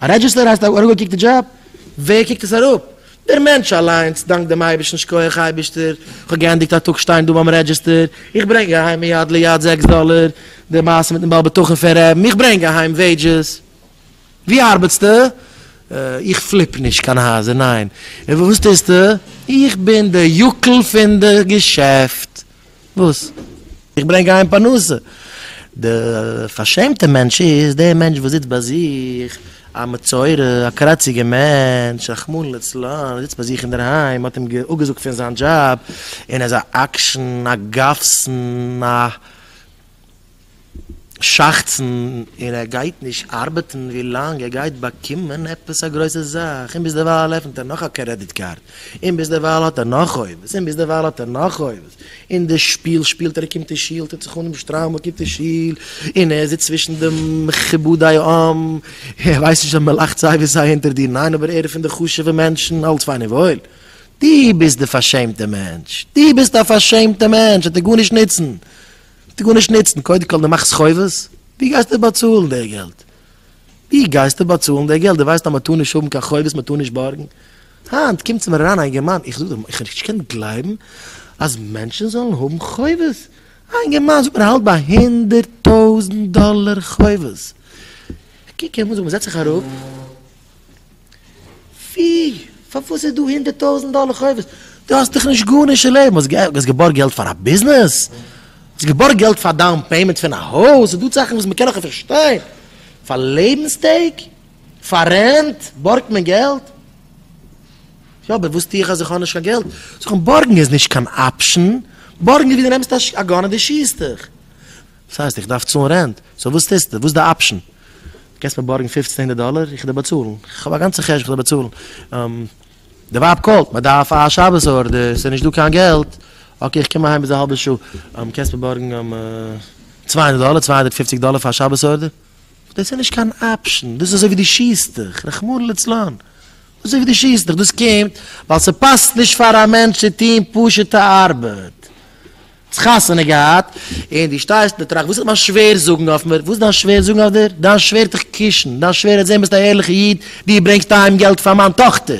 א רעדזשיסטער הייסט א אראפגעקוקטע דזשאב? ווער קוקט עס אראפ? דער מענטש אליינס, דאנק דעם אייבערשטן שכוח אייבערשטער, איך האב געענדיגט א טאג שטיין דא ביים רעדזשיסטער, איך ברענג אהיים מיד ליד זעקס דאלער, די מעשה מיטן בעל בטחון פון רעבן, איך ברענג אהיים וועידזשעס. ווי ארבעטסטו? איך פליפ נישט קיין הייזער, ניין. און וואס טוסטו? איך בין די יוקל פון די געשעפט. וואס? איך ברענג אהיים פרנסה! די פארשעמטע מענטש איז דער מענטש וואס זיצט ביי זיך, א מצורע, א קראציגער מענטש, רחמנא לצלן, זיצט ביי זיך אינדערהיים, מ'האט אים אפגעזאגט פון זיין דזשאב, און ער איז א עקשן, א גאפסן, א. שחצן און ער גייט נישט ארבעטן ווי לאנג ער גייט באקומען עפעס א גרויסע זאך און ביזדערווייל עפנט ער נאך א קרעדיט קארד און ביזדערווייל האט ער נאך חובות און ביזדערווייל האט ער נאך חובות און די שפיל שפילט ער קומט אין שול טוט זיך אן אים שטריימל קומט אין שול און ער זיצט צווישן די מכובדי העם ער ווייסט נישט אז מען לאכט סיי ווי סיי אונטער דיר ניין אבער ער איז פון די חשובע מענטשן אלץ פיין און וואויל דו ביסט די פארשעמטע מענטש דו ביסט א פארשעמטע מענטש ער טאר גארנישט נוצן. וועט גארנישט נוצן, קודם כל דו מאכסט חובות, ווי גייסטו באצאלן די געלט? ווי גייסטו באצאלן די געלט? דו ווייסט אז מען טאר נישט האבן קיין חובות, מען טאר נישט בארגן? היינט קומט צו מיר אריין א אינגערמאן, איך זאג דיר, איך נישט קענען גלייבן אז מענטשן זאלן האבן חובות, א אינגערמאן זאגט מיר ער האלט ביי הונדערט טויזנט דאלער חובות, איך קוק אים אן, זאג מען זעץ זיך אראפ. ווי? פארוואס איז דא הונדערט טויזענט דאלער חובות? דו האסט דאך נישט גארנישט אין לעבן, האסט געבארגט געלט פאר א ביזנעס? האסט געבארגט געלט פאר דאון פעימענט פון א הויז? איז דא זאכן וואס מען קען נאך פארשטיין? פאר לעבנסטעג? פאר רענט בארגט מען געלט? יא, אבער וואס טו איך אז איך האב נישט קיין געלט? זאג, און בארגן איז נישט קיין אפשן? בארגן איז ווי דו נעמסט א גאן און דו שיסט דיך. דאס הייסט איך דארף צאלן רענט, סאו וואס טוסטו? וואס איז די אפשן? דו קענסט מיר בארגן פופצן הונדערט דאלער? איך וועל דיר באצאלן, איך האב א גאנצע חשבון, איך וועל דיר באצאלן. די ווייב קאלט, מען דארף א שבת ארדער, ס'איז נישטא קיין געלט. אקעי, איך קום אהיים ביז א האלבע שעה, קענסט מיר בארגן צוויי הונדערט דאלער, צוויי הונדערט פופציג דאלער פאר א שבת ארדער? דאס איז נישט קיין אפשן, דאס איז אזוי ווי דו שיסט דיך, רחמנא ליצלן. דאס איז אזוי ווי דו שיסט דיך, דאס קומט ווייל ס'פאסט נישט פאר א מענטש צו טון פשוט'ע ארבעט. חתונה געהאט, און דו שטייסט און טראכט, וואס איז מיין שווער זאגן אויף מיר? וואס איז דיין שווער זאגן אויף דיר? דיין שווער האט דיך קושן, דיין שווער האט זען ביסט א ערליכע איד, דו ברענגסט אהיים געלט פאר מיין טאכטער.